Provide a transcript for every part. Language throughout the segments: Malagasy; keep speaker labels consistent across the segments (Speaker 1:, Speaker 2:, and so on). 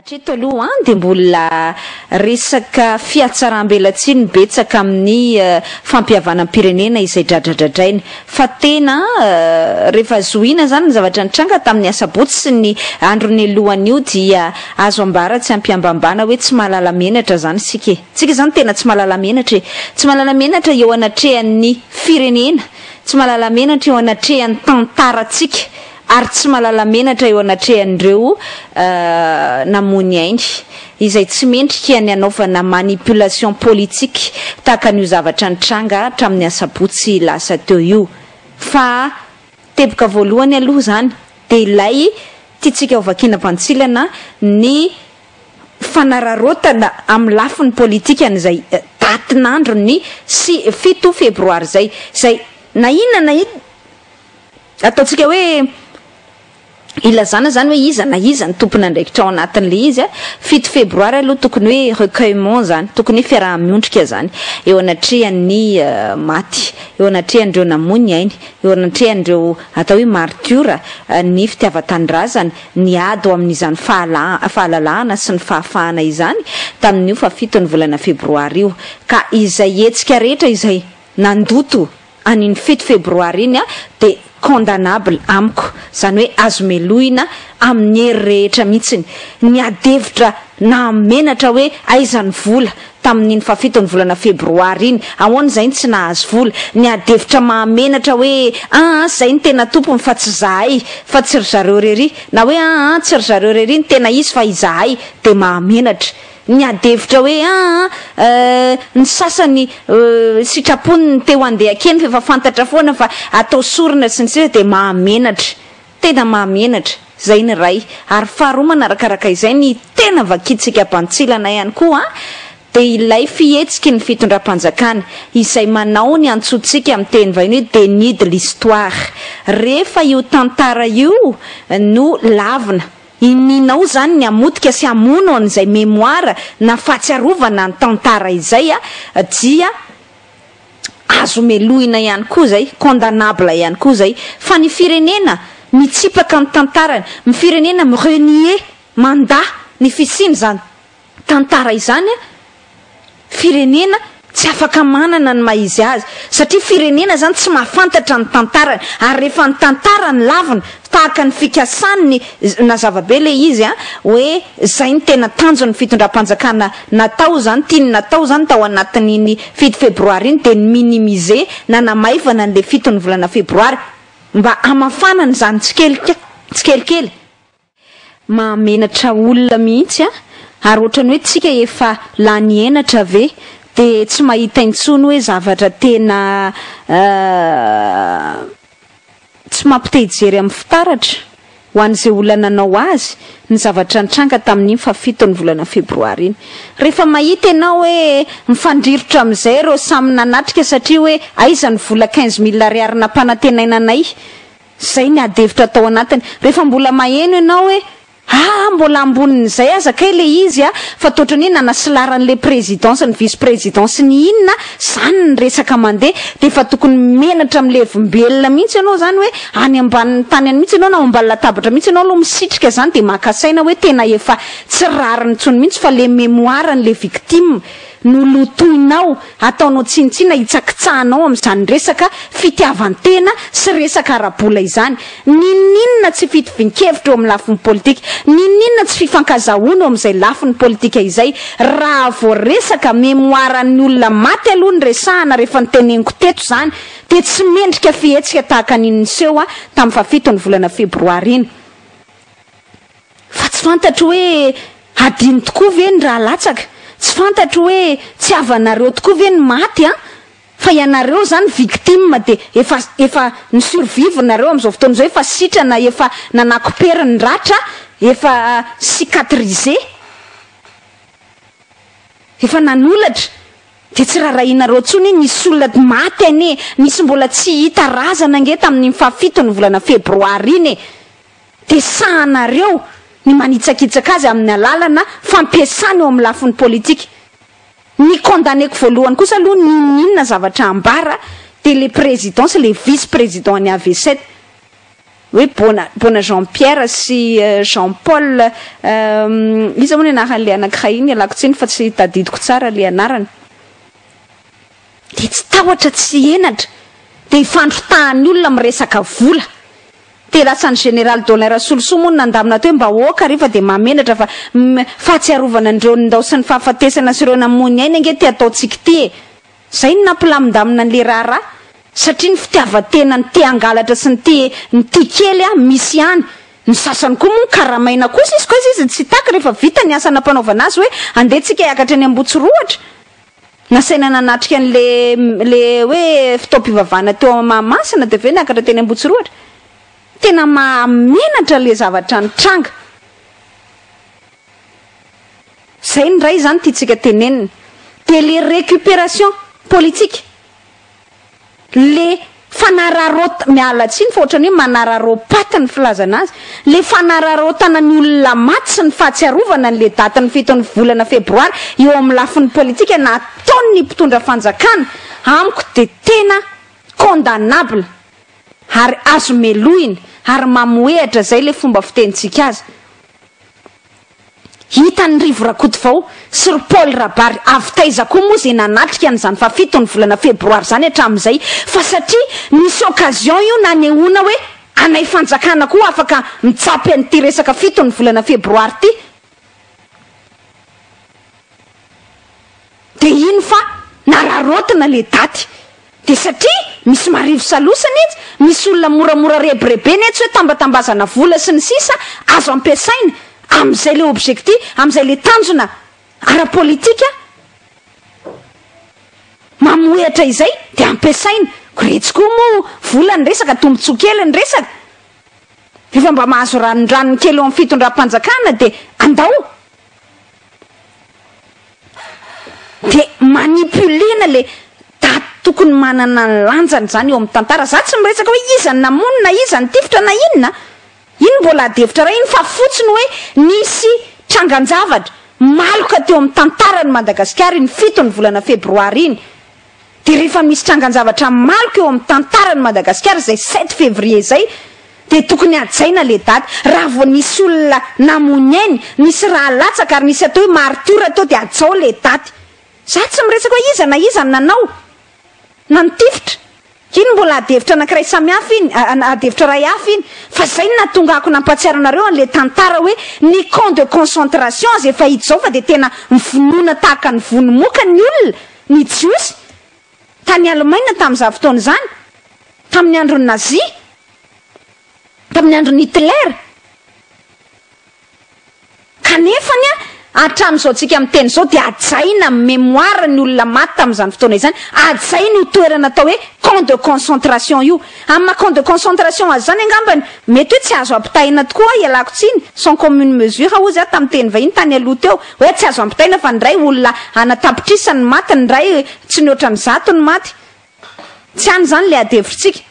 Speaker 1: Hatreto aloha dia mbola resaka fihatsaram-belatsihy no betsaka amin'ny fampihavanam-pirenena izay dradradradraina. Fa tena rehefa zohiana izany ny zavatra nitranga tamin'ny asabotsy sy ny andro nialohan'io dia azo ambara tsy am-piambambana hoe tsy mahalala menatra izany isika e! Isika izany tena tsy mahalala menatra e! Tsy mahalala menatra eo anatrehan'ny firenena, tsy mahalala menatra eo anatrehan'ny tantarantsika ary tsy malala menatra eo anatrehan'ireo namoany ainy izay tsy mendrika ny hanaovana manipulation politique tahaka an'io zavatra nitranga hatramin'ny asabotsy lasa teo io fa teboka voalohany aloha izany dia ilay tiantsika ho vakiana bantsilana ny fanararaotana amin'ny lafiny politika an'izay datin'andron'ny fito febroary izay izay na inona na inona Ataontsika hoe ilazana izany hoe iza na iza ny tompon'andraikitra ao anatin'ilay izy a. Fito febroary aloha tokony hoe recueillement izany, tokony hoe fiaraha-miondrika izany eo anatrehan'ny maty, eo anatrehan'ireo namoy ny ainy, eo anatrehan'ireo atao hoe maritiora ny fitiavan-tanindrazana, niady ho amin'izany fahalà- fahalalahana sy ny fahafahana izany tamin'io fahafito ny volana febroary io. Ka izay hetsika rehetra izay nandoto an'iny fito febroary iny dia condamnable amiko, izany hoe azo melohina amin'ny hery rehetra mihitsiny, ny ady hevitra nahamenatra hoe aiza ny vola tamin'iny fahafiton'ny volana febroary iny, ahoana izahay no tsy nahazo vola, ny ady hevitra mahamenatra hoe an an izahay no tena tompony fa tsy izahay fa tsy ry zareo irery na hoe an an tsy ry zareo irery no tena izy fa izahay dia mahamenatra. Niady hevitra hoe aa eh, ny sasany eh, sitrapony ny te ho andeha kely f'efa fantatra foana fa atao sorona sy ny sisa dia mahamenatra, tena mahamenatra, izay ny iray. Ary faharoa manarakaraka izay ny tena vakintsika bantsilana ihany koa an, dia ilay fihetsiky ny fitondram-panjakana izay manao ny antsointsika amin'ny teny vahiny hoe déni de l'histoire. Rehefa io tantara io no lavina. Ininao zany ny hamotika sy hamono an'izay memoire na fahatsiarovana ny tantara izay a, dia azo melohina ihany koa zay, condamnable ihany koa zay, fa ny firenena mitsipaka ny tantarany, ny firenena mi renier, mandà, ny fisian'izany tantara izany firenena tsy afaka manana ny maha izy azy satria firenena izany tsy mahafantatra ny tantarany ary rehefa ny tantarany lavina tahaka ny fikasan'ny na zavabe ilay izy a hoe izay ny tena tanjon'ny fitondram-panjakana natao izany tiany natao izany tao anatin'iny fito febroary iny dia ny minimize na namaivana an'ilay fitony volana febroary mba hamafanana izany tsikelikely tsikelikely Mahamenatra olona mihitsy a! Ary ohatrany hoe tsika efa lany henatra ve de tsy mahita intsony hoe zavatra tena tsy mampitehijery amin'ny fitaratra ho an'izay olona nanao azy ny zavatra nitranga tamin'iny fahafitony volana febroary iny. Rehefa mahita ianao hoe mifandrirotra amin'izay ireo samy nanatrika satria hoe aiza ny vola quinze mille ariary nampanantenaina anay? Izay ny adihevitra tao anatiny. Rehefa mbola maheno ianao hoe aa mbola ambonin'izay aza kay le izy a! fa toa otrany hoe nanasilarany le président sy ny vice président sy ny inona zany ny resaka mandeha dia efa tokony menatra milevimbelona mihitsy ianao zany hoe any ambanin'ny tany any mihitsy ianao na ao ambany latabatra mihitsy ianao aloha misitrika zany dia maka saina hoe tena efa tsy rariny intsony mihitsy fa le mémoire-ny le victime Nolotoinao, ataonao tsinontsina, hitsakitsahanao amin'izany resaka fitiavan-tena sy resaka ara-bola izany. N'inon'inona tsy fitovian-kevitra eo amin'ny lafiny politika, n'inon'inona tsy fifankazahoana eo amin'izay lafiny politika izay. Raha vao resaka memoaran'ny olona maty aloha no resahana rehefa ny teneniko teto izany dia tsy mendrika fihetsika tahaka ny niseho tamin'ny faha fito ny volana febroary iny. Fa tsy fantatro hoe hadino tokoa ve ny rà latsaka? Tsy fantatro hoe tsy havanareo tokoa ve ny maty an? Fa ianareo izany victime dia efa efa ny survive nareo amin'izao fotoana izao efa sitrana efa nanakopery ny ratra efa cicatrisé efa nanolatra dia tsy rarahianareo intsony iny nisy olona maty anie nisy mbola tsy hita razana ange tamin'iny fahafito ny volana febroary iny e! Tesahanareo ny manitsakitsaka azy amin'ny alalana fampiasana eo amin'ny lafiny politika. Ny condamneko voalohany kosa aloha n'inon'inona zavatra ambara dia le président sy le vice président an'i Avesset hoe Bona Bona Jean Pierre sy Jean Paul iza moa ny anaran'ilay anakiray iny ialako tsiny fa tsy tadidiko tsara le anarany. Dia tsy tahotra tsy henatra dia ifandrotahan'ny olona miresaka vola. Dia lasan'ny général Dolin Rasolosoa moa no nandamina teo hoe mba aoka re fa dia mahamenatra fa ny fahatsiarovana an'ireo nindao sy ny fahafatesana sy ireo namoy ny ainy ange ty ataontsika ity e. Izay no nampilamindamina an'ilay raharaha satria ny fitiavan-tena ny te hangalatra sy ny te ny tia kely a misy ihany. Ny sasany koa moa ny karamaina kosa izy koa izy izy tsy hitaky rehefa vita ny asa nampanaovana azy hoe andeha tsika hiakatra eny Ambohitsorohatra. Nasaina nanatrika an'ilay ilay hoe fotoam-pivavahana teo amin'ny Mahamasina dia avy eo niakatra teny Ambohitsorohatra. Tena mahamenatra ilay zavatra nitranga. Izay ny iray izany tiantsika tenenina. Dia ilay récupération politique. le fanararaot miala tsiny fa ohatrany hoe manararaopaty ny filazana azy, le fanararaotana ny olona maty sy ny fahatsiarovana ny le daty ny fito ny volana febroary eo amin'ny lafiny politika na ataon'ny mpitondra fanjakana amiko de tena condamnable ary azo melohina ary mamohehatra zay le fomba fitenintsika azy. Hitan'i Rivo Rakotovao sy ry Paoly Rabary avy taiza koa moa izay nanatrika an'izany fahafiton'ny volana febroary izany hatramin'izay fa satria nisy occasion io nanehoana hoe anay fanjakana koa afaka mitsapy an'ity resaka fiton'ny volana febroary ity Dia hino fa nararaotina le daty. Dia satria misy marivo salosana etsy, misy olona moramora rebirebena etsy hoe tambatambazana vola sy ny sisa azo ampiasaina amin'izay le objectif, amin'izay le tanjona ara-politika mamohehatra izay dia ampiasaina. Ko retsy koa moa vola ny resaka, tombotsoa kely ny resaka. Rehefa mba mahazo ranondranony kely eo amin'ny fitondram-panjakana dia andao Dia manipuler-na le daty tokony manana ny lanjany izany eo amin'ny tantara. Za tsy miresaka hoe iza no namono na iza nitifitra na inona an! Iny mbola adihevitra iray iny fa fotsiny hoe nisy trangan-javatra maloka teo amin'ny tantaran'i Madagasikara iny fito ny volana febroary iny. Dia rehefa misy trangan-javatra maloka eo amin'ny tantaran'i Madagasikara izay sept février izay dia tokony hajaina ilay daty. Raha vao nisy olona namoy ny ainy, nisy rà latsaka ary nisy atao hoe maritiora teo dia hajao ilay daty. Izaho tsy miresaka hoe iza na iza no nanao na nitifitra Iny mbola adihevitra anankiray samihafa iny, adihevitra iray hafa iny, fa izay no nahatonga ako nampahatsiaro anareo an'ilay tantara hoe ny camp de concentration aza efa hita izao fa dia tena mivonona tahaka ny vono moka ny olona, ny Jiosy, tany Alemaina tamin'izany fotoana izany, tamin'ny andron'ny Nazia, tamin'ny andron'i Hitler. Kanefa anie, hatramin'izao antsika miteny izao dia hajaina amin'ny mémoire ny olona maty tamin'izany fotoana izany, hajaina io toerana atao hoe camp de concentration io. Amin'ny maha camp de concentration azy izany angambany, mety hoe tsy azo ampitahaina tokoa ho'a, ialako tsiny, sans commune mesure hozy aho tamin'ny teny vahiny tany aloha teo, hoe tsy azo ampitahaina fa indray olona anatapitrisa ny maty, indray tsy mihoatra ny zato ny maty. Tsy any izany ilay adihevitsika.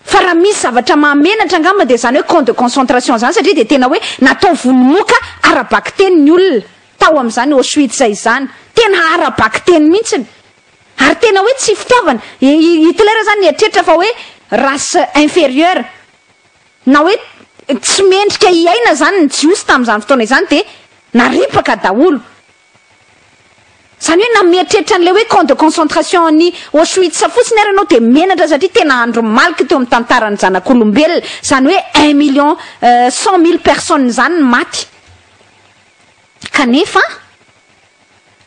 Speaker 1: Fa raha misy zavatra mahamenatra angamba dia izany hoe camp de concentration izany satria dia tena hoe natao vono moka ara-bakiteny ny olona tao amin'izany Auschwitz izany. Tena ara-bakiteny mihitsiny. Ary tena hoe tsy fitiavana. I Hitler izany nieritreritra fa hoe race inférieure na hoe tsy mendrika hiaina izany ny Jiosy tamin'izany fotoana izany dia naripaka daholo. Izany hoe na mieritreritra an'ilay hoe camp de concentration an'i Auschwitz fotsiny ary ianao dia menatra satria tena andro maloky teo amin'ny tantaran'ny zanak'olombelona izany hoe un million cent mille personnes izany ny maty kanefa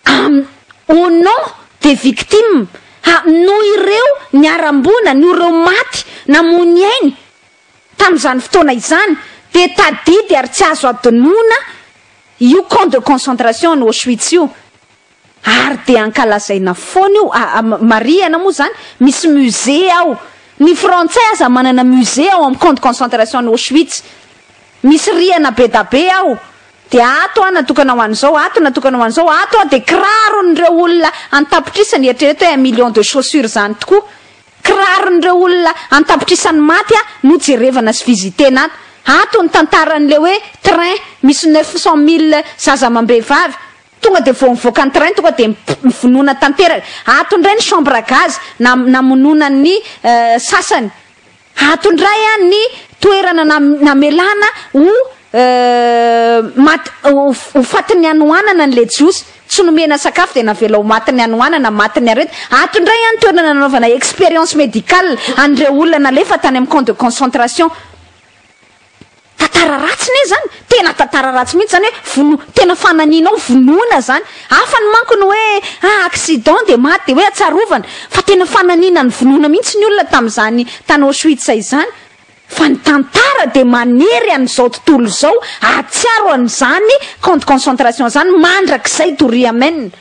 Speaker 1: amin'ny au nom des victimes ha noho ireo niharam-boina noho ireo maty namoy ny ainy Tamin'izany fotoana izany dia tadidy ary tsy azo adinoina io camp de concentration any Auschwitz io ary dia ankalazaina foana io, marihana moa izany, misy musée ao, ny frantsay aza manana musée ao amin'ny camp de concentration any Auschwitz, misy rihana bedabe ao, dia ato aho natokana ho an'izao, ato natokana ho an'izao, ato aho dia kiraron'ireo olona an-tapitrisany, eritrereto hoe un million de chaussures izany tokoa. Kiraron'ireo olona an-tapitrisany maty a no jerevana sy visitena ato. Ato ny tantaran'ilay hoe train misy neuf cent mille zaza amam-behivavy. Tonga dia vao mivoaka ny train tonga dia mivonoana tanteraka. Ato indray ny chambre à gaz na namonoana ny sasany. Ato indray a ny toerana namelana ho ho fatin'ny hanohanana an'ilay jiosy. Tsy nomena sakafo dia navela ho matin'ny hanoanana, matin'ny aretina. Ato indray ihany toerana nanaovana expérience médicale an'ireo olona nalefa tany amin'ny camp de concentration. Tantara ratsy ne izany, tena tantara ratsy mihitsy izany hoe vono, tena fananianao vonoina izany. Hafa ny manko ny hoe ah accident dia maty dia hoe atsarovana, fa tena fananiana ny vonoina mihitsy ny olona tamin'izany tany Auschwitz izany. Fa ny tantara dia manery an'izao tontolo izao, ahatsiaro an'izany camp de concentration izany mandrakizay Doria Amen.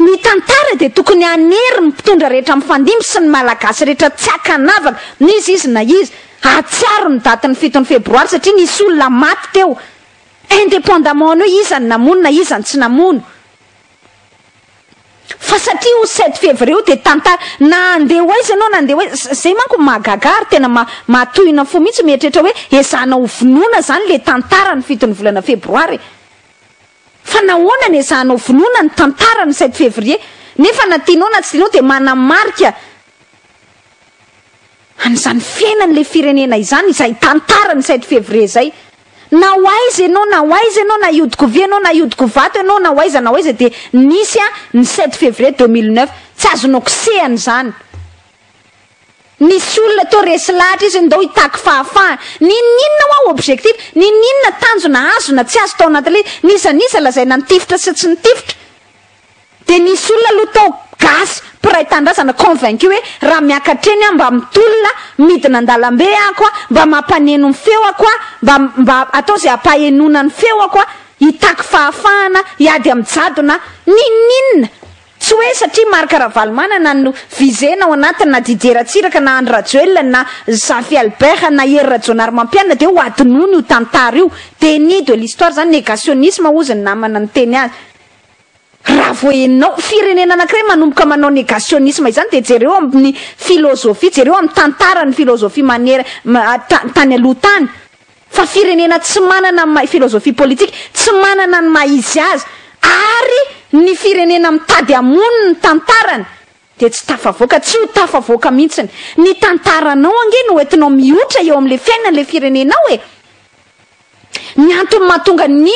Speaker 1: Ny tantara dia tokony hanery ny mpitondra rehetra mifandimby sy ny Malagasy rehetra tsy ankanavaka n'iza izy na iza, hahatsiaro ny datin'ny fitony febroary satria nisy olona maty teo, indépendamment an'io iza no namono na iza no tsy namono. Fa satria io sept fevrier io dia tantara, na handeha ho aiza ianao na handeha ho aiza, za- zay manko no mahagaga ahy ary tena ma- mahatohina fo mihitsy mieritreritra hoe ezahana ho vonoina zany le tantara ny fito ny volana febroary e! Fa nahoana no ezahana ho vonoina ny tantara ny sept fevrier? Nefa na tianao na tsy tianao dia manamarika An'izany fiainan'ilay firenena izany izay tantara ny sept février izay. Na ho aiza ianao na ho aiza ianao, na hiodiko vy ianao na hiodiko vato ianao, na ho aiza na ho aiza dia nisy ny sept février deux mille neuf. Tsy azonao kosehana izany. Nisy olona teo resy lahatra izy ndao hitaky fahafahana. N'inon'inona hoa objectif, n'inon'inona tanjona azo na tsy azo tao anatin'ilay izy. N'iza n'iza lazaina nitifitra sy tsy nitifitra. Dia nisy olona aloha tao, gasy, mpiray tanindrazana, convaincu hoe raha miakatra eny aho mba mitolona, midina an-dalambe ako aho, mba mampaneno ny feoko aho, mba, mba atao izay hampahenoana ny feoko aho, hitaky fahafahana, hiady amin'ny jadona aho. N'inon'inona! Tsy hoe satria Marc Ravalomanana no visena ao anatiny, na Didier Ratsiraka, na Andry Rajoelina, na Zafy Albert, na Hery Rajaonarimampianina dia hohadinoina io tantara io. Déni de l'histoire izany, négationnisme hozy ny namana niteny azy. Raha vao enao firenena anakiray manomboka manao negationisme izany dia jereo amin'ny philosophie, jereo amin'ny tantaran'ny philosophie manera, tany aloha tany. Fa firenena tsy manana ny maha philosophie politique, tsy manana ny maha izy azy, ary ny firenena mitady hamono ny tantarany dia tsy tafavoaka, tsy ho tafavoaka mihintsiny. Ny tantaranao ange no entinao mihoitra eo amin'ilay fiainan'ilay firenenao e! Ny antony mahatonga ny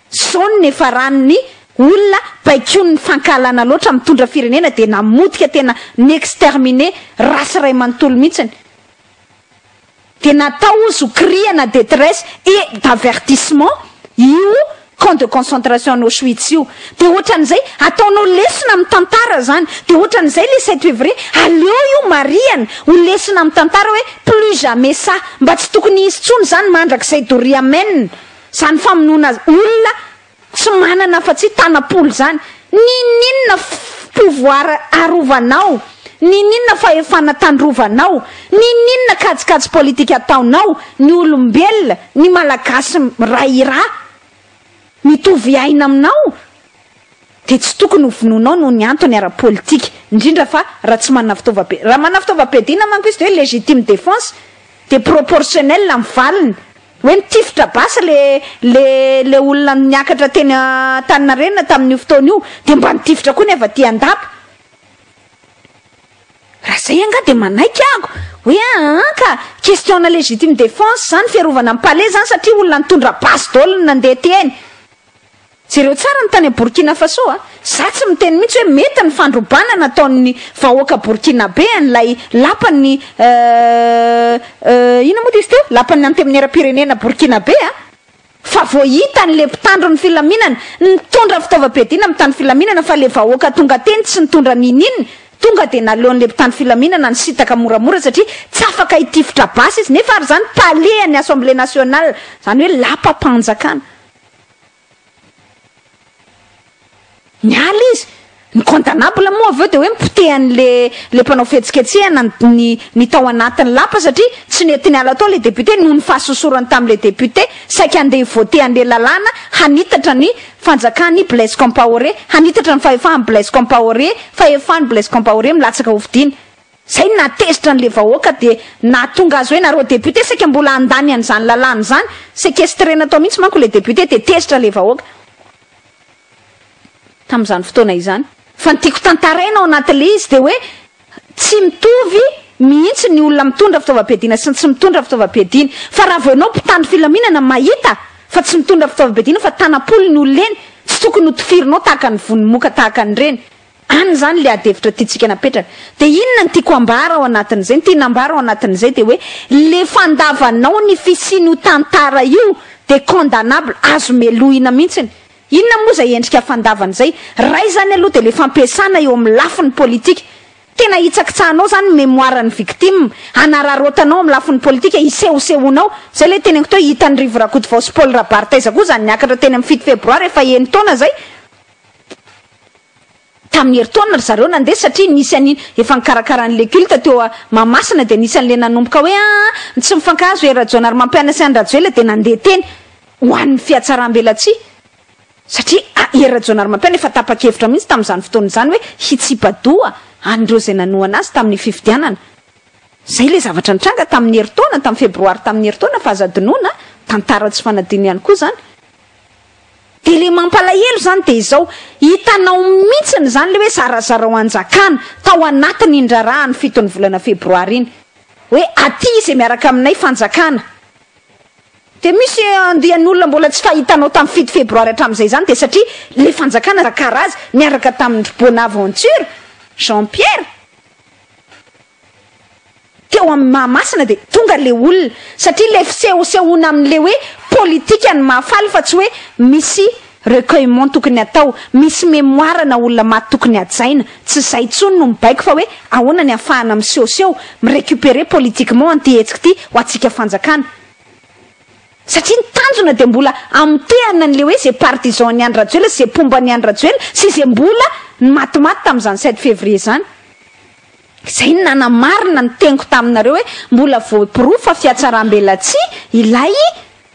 Speaker 1: Zao no niafarany ny olona baikoin'ny fankahalana loatra mitondra firenena dia namotika tena ni-exterminer race iray manontolo mihitsiny. Dia natao hozy ho krihana detresse et d'avertissement io camp de concentration any Auschwitz io. Dia ohatran'izay ataonao lesona amin'ny tantara izany. Dia ohatran'izay ilay sept février, aleo io marihana ho lesona amin'ny tantara hoe plus jamais ça. Mba tsy tokony hisy intsony izany mandrakizay doria amen. Zany famonoana olona tsy manana afa tsy tanam-polo zany ninoninona pouvoir arovanao, ninoninona fahefana tandrovanao, ninoninona kajikajy politika ataonao, ny olombelona, ny malagasy ray ira mitovy aina aminao dia tsy tokony ho vonoinao noho ny antony ara politika, indrindra fa raha tsy manana fitaovam-piadiana, raha manana fitaovam-piadiana manko izy dia hoe légitime défense dia proportionnel amin'ny valiny, Hoe nitifitra basy le le le olona niakatra teny Antaninarenina tamin'io fotoana io dia mba nitifitra koa ny avy aty Andapa. Raha zay angaha dia manaiky aho hoe aa ka question-na legitime défense zany fiarovana ny palais zany satria olona nitondra basy daholo no nandeha teny. Jereo tsara ny tany Borkina Faso a! Za tsy miteny mihitsy hoe mety ny fandrobana nataon'ny vahoaka Borkinabe an'ilay lapan'ny euh euh inona moa dia izy teo? Lapan'ny Antemieram-pirenena Borkinabe a! Fa vao hita an'ilay mpitandro ny filaminana nitondra fitaovam-piadiana mitandro filaminana fa ilay vahoaka tonga teny tsy nitondra n'ininona tonga dia naleon'ilay mpitandro filaminana nisintaka moramora satria tsy afaka hitifitra basy izy nefa ary izany palais an'ny Assemblée Nationale izany hoe lapam-panjakana Niala izy. Ny condamnable moa avy eo dia hoe mipotehan'ilay ilay mpanao fihetsiketsehana ny ny ny tao anatin'ny lapa satria tsy nety niala tao ilay député noho ny fahasosorany tamin'ilay député saika handeha hi-voter an'ilay lalàna hanitatra ny fanjakan'i Blaise Compaoré, hanitatra ny fahefahan'i Blaise Compaoré, fahefan'i Blaise Compaoré milatsaka hofidiana. Izay no nahatezitra an'ilay vahoaka dia nahatonga azy hoe nareo député saika mbola handany an'izany lalàna izany, sequestrena tao mihitsy manko ilay député dia tezitra ilay vahoaka tamin'izany fotoana izany. Fa ny tiako tantaraina ao anatin'ilay izy dia hoe tsy mitovy mihitsy ny olona mitondra fitaovam-piadiana sy ny tsy mitondra fitaovam-piadiana. Fa raha vao ianao mpitandro filaminana mahita fa tsy mitondra fitaovam-piadiana fa tanam-polony olona eny, tsy tokony hotifirinao tahaka ny vono moka tahaka an'ireny Any izany ilay adihevitra tiantsika napetraka. Dia inona no tiako hambara ao anatin'izay? Ny tiana hambara ao anatin'izay dia hoe ilay fandavanao ny fisian'io tantara io dia condamnable, azo melohina mihitsiny. Inona moa izay endrika fandavana izay? Iray izany aloha dia ilay fampiasana eo amin'ny lafiny politika. Tena hitsakitsahanao izany ny mémoire-n'ny victime, hanararaotanao amin'ny lafiny politika, hisehosehoanao. Izay ilay teneniko teo, hitan'i Rivo Rakotovao sy Paul Rabary taiza koa izany niakatra teny amin'ny fito febroary efa eny taona izay? Tamin'ny herintaona ry zareo nandeha satria nisy an'i efa nikarakara an'ilay culte teo a Mahamasina dia nisy an'ilay nanomboka hoe aa tsy mifankahazo e Rajaonarimampianina sy Andriajoelina dia nandeha teny ho an'ny fihatsaram-belatsihy satria a i Rajaonarimampianina efa tapa-kevitra mihitsy tamin'izany fotoana izany hoe hitsipa-doha an'ireo izay nanohana azy tamin'ny fifidianana. Izay ilay zavatra nitranga tamin'ny herintaona, tamin'ny febroary tamin'ny herintaona fa aza adinoina a, tantara tsy fanadino ihany koa izany. Dia le mampalahelo zany dia izao, hitanao mintsiny izany le hoe zarazarao hanjakana, tao anatin iny raharaha ny fito ny volana febroary iny, hoe aty izay miaraka aminay fanjakana, dia misy andian olona mbola tsy fahitanao tam fito febroary hatram izay izany dia satria le fanjakana zakarazy niaraka tamin dry bonaventure jean pierre, teo amin'ny Mahamasina dia tonga ilay olona satria ilay fisehosehoana amin'ilay hoe politika no mahafaly fa tsy hoe misy recueillement tokony atao, misy mémoire ana olona maty tokony hajaina, tsy izay intsony no mibaiko fa hoe ahoana ny ahafahana misehoseho, mi-recuperer politiquement an'ity hetsika ity ho antsika fanjakana. Satria ny tanjona dia mbola hamotehana an'ilay hoe izay partisan an'i Andry Rajoelina sy izay mpomba an'i Andry Rajoelina sy izay mbola ny matimaty tamin'izany 7 février izany. Izay no nanamarina ny teniko taminareo hoe mbola voaporofo fa fiatsaram-belatsihy ilay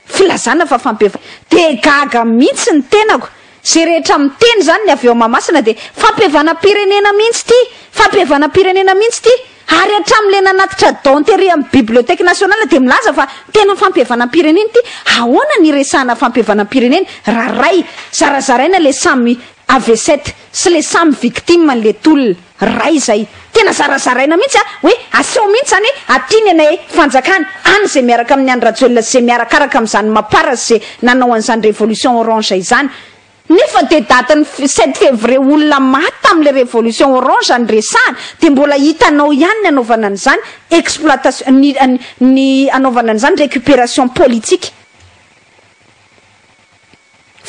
Speaker 1: filazana fa fampievana. Dia gaga mihitsy ny tenako. Izay rehetra miteny izany ny avy ao Mahamasina dia fampihevanam-pirenena mihitsy ity, fampihevanam-pirenena mihitsy ity. Ary hatramin'ilay nanatitra Don Terry amin'ny Bibliothèque Nationale dia milaza fa tena fampihevanam-pirenena ity. Ahoana no iresahana fampihevanam-pirenena raha ray, zarazaraina ilay samy avesette sy ilay samy victime an'ilay tolona. Ray izay. Tena zarazaraina mihitsy a! Hoe aseho mihitsy izany hoe aty ny anay fanjakana, any izay miaraka amin'i Andry Rajoelina sy izay miarakaraka amin'izany Mapar sy izay nanao an'izany révolution orange izany. Nefa dia datin'ny sept février olona maty tamin'ilay révolution orange no resahana, dia mbola hitanao ihany ny anaovana an'izany exploitation, ny ny anaovana an'izany récupération politique.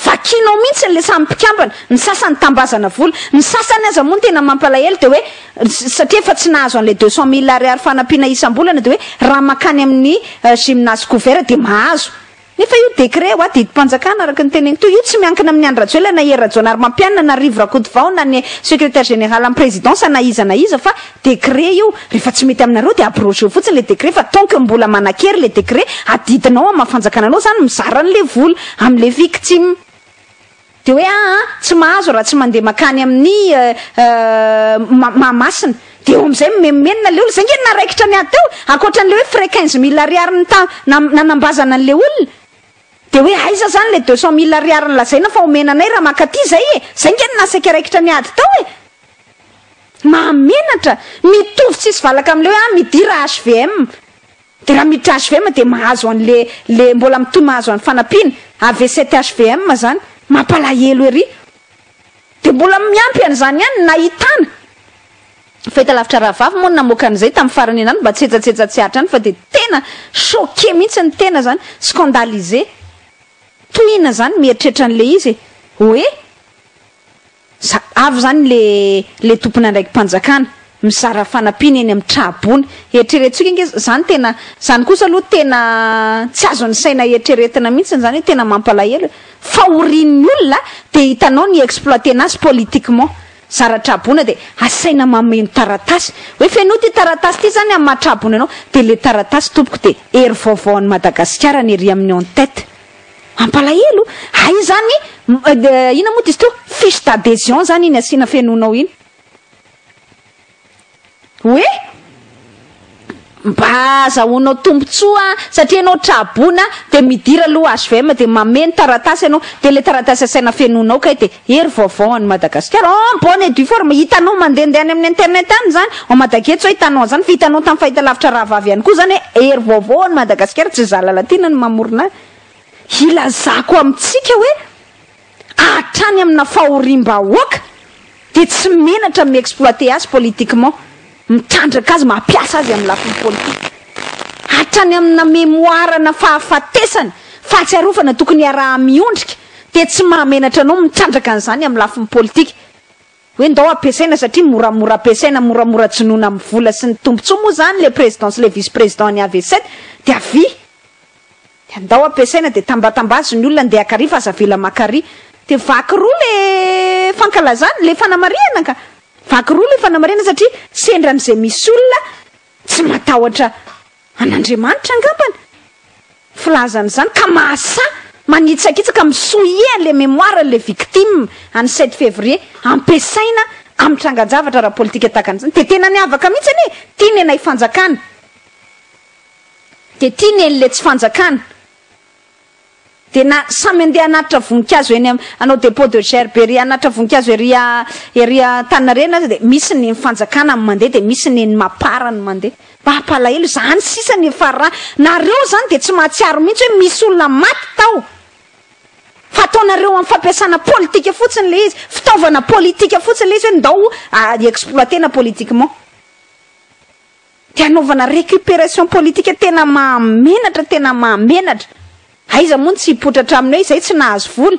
Speaker 1: Vakinao mihitsy ilay samy mpikambana, ny sasany tambazana vola, ny sasany aza moa ny tena mampalahelo dia hoe satria efa tsy nahazo an'ilay deux cent mille ariary fanampiana isam-bolana dia hoe raha mankany amin'ny gymnase couvert dia mahazo. Nefa io décret hoa didim-panjakana araka ny teneniko teo, io tsy miankina amin'i Andry Rajoelina na i Hery Rajaonarimampianina na Rivo Rakotovao na ny secrétaire général am-presidence na iza na iza fa Décret io, rehefa tsy mety aminareo dia abrogeo fotsiny ilay décret fa tant que mbola manan-kery ilay décret, adidinao amin'ny maha fanjakana anao izany mizara an'ilay vola amin'ilay victime. Dia hoe aa tsy mahazo raha tsy mandeha makany amin'ny aa Mahamasina. Dia eo amin'izay mimenomenona ilay olona. Izay nge ny naharaikitra ny ahy teo e! Ankoatran'ilay hoe frais quinze mille ariary nita- na- nanambazana an'ilay olona. Dia hoe aiza izany ilay deux cent mille ariary nolazaina fa omena anay raha mankaty izay e! Izay nge no naha saika raikitra ny ady tao e! Mahamenatra! Mitovy tsisy valaka amle hoe midira HVM de raha miditra HVM de mahazo anle le mbola mitohy mahazo any fanampiana avy cet HVM zany. Mampalahelo ery! De mbola miampy an'izany ihany ny nahitana! Fahitalavitra rahavavy moa no namoaka an'izay tamin'ny farany an'andro mba tsy hetsatsetsa tsy ahatra any fa dia tena choqué mihitsy ny tena zany, scandalisé! Tohina zany mieritreritra an'le izy e! Ohé! Za avy izany le le tompon'andraiki-panjakana mizara fanampiana eny amin'ny tra-boina. Eritreretintsika ange izany tena, izany kosa aloha tena tsy azon'ny saina eritreretina mihitsy izany hoe tena mampalahelo e. Fahorian'ny olona dia hitanao ny exploiter-na azy politiquement. Zara tra-boina dia asaina mameno taratasy. Hoe fenoy ity taratasy ity izany amin'ny maha tra-boina anao. Dia le taratasy tompoko dia hery vaovao an'i Madagasikara ny ery amin'ny en tête. Mampalahelo, hay izany inona moa disto fiche d'adhesion izany iny asiana fenoinao iny hoe mba azahoanao tombotsoa satria ianao tra-boina dia midira aloha HVM dia mameno taratasy ianao dia ilay taratasy asaina fenoinao kay dia Hery vaovao any Madagasikara. Oh en bonne et due forme, hitanao mandehandeha any amin'ny internet any izany, en Madagetso hoe hitanao an'izany, fa hitanao tamin'ny fahitalavitra rahavavy ihany koa izany hoe hery vaovao any Madagasikara, tsy izaho Lalatiana no mamorona ahy. Hilazako amintsika hoe hatrany amina fahoriam-bahoaka dia tsy menatra mi-exploiter azy politiquement. mitandraka azy, mampiasa azy amin'ny lafiny politika, hatrany amin'ny namemoarana fahafatesany, fahatsiarovana tokony hiaraha-miondrika, dia tsy mahamenatra anao mitandraka an'izany amin'ny lafiny politika, hoe ndao ampiasaina satria moramora ampiasaina, moramora jonoina amin'ny vola sy ny tombotsoa moa izany ilay président sy ilay vice-président an'i avc dia avia. Dia ndao ampiasaina dia tambatambazy ny olona ndeha akary fa aza avela makary. Dia vaky roa le fankalazana, le fanamarihana ka. Vaky roa le fanamarihana satria sendra an'izay misy olona tsy matahotra an'Andriamanitra angambany filaza an'izany ka mahasahy manitsakitsaka mi-souiller an'le mémoire an'le victime an'ny sept février ampiasaina amin'ny trangan-javatra ara-politika tahaka an'izany. Dia tena niavaka mihitsy anie, tian'ny anay fanjakana. Dia ity nely le tsy fanjakana. Dia na samy andeha hanatitra voninkazo eny am, hanao depot de gerberie, hanatitra voninkazo ery a, ery a Antaninarenina aza dia misy ny eny fanjakana ny mandeha dia misy ny eny Mapar ny mandeha. Mba hampalahelo izany sisa ny efa ra, nareo izany dia tsy mahatsiaro mihintsy hoe misy olona maty tao. Fa ataonareo am fampiasana politika fotsiny le izy, fitaovana politika fotsiny le izy hoe ndao a exploiter-na politiquement. de hanaovana récupération politique tena mahamenatra tena mahamenatra aiza moa ny tsy hipotratra aminy hoe izay tsy nahazo vola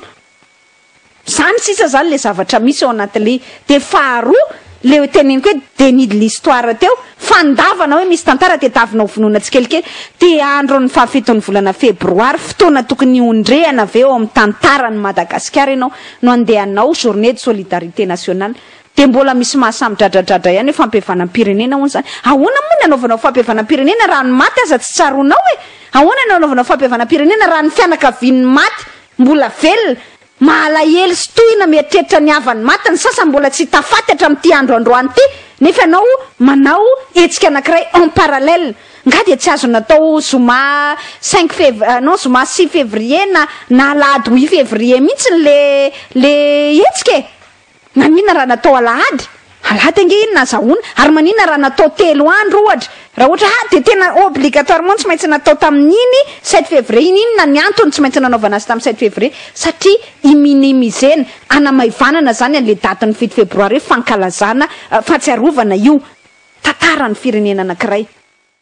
Speaker 1: zany sisa zany le zavatra misy ao anatin'le de faharoa le hoe teneniko hoe déni de l'histoire teo fandavana hoe misy tantara de tavina ho vonoina tsikelikely de andro ny fahafiton'ny volana febroary fotoana tokony hondrehana avy eo amin'ny tantaran'i Madagasikara ianao no andeha hanao journée de solidarité nationale Dia mbola misy maha samy dradradradra ihany hoe fampihavanam-pirenena hono izany. Ahoana moa ny hanaovanao fampihavanam-pirenena raha ny maty aza tsy tsaroanao e? Ahoana ny hanaovanao fampihavanam-pirenena raha ny fianakavian'ny maty mbola velona? Mahalahelo sy tohina mieritreritra ny havan'ny maty ny sasany mbola tsy hita faty hatramin'ity andro androany ity nefa ianao manao hetsika anankiray en parallèle. Nga dia tsy azo natao zoma cinq fev non zoma six février na na alahady huit février mihitsy le le hetsika e? Maninona raha natao alahady? Alahady ange iny nazahoana. Ary maninona raha natao telo andro ohatra? Raha ohatra ah dia tena obligatoirement tsy maintsy natao tamin'iny sept février iny, inona ny antony tsy maintsy nanaovana azy tamin'ny sept février? Satria hi-minimiser-na, hanamaivanana izany an'ilay datin'ny fito febroary hoe fankalazana, fahatsiarovana io tantaran'ny firenena anankiray.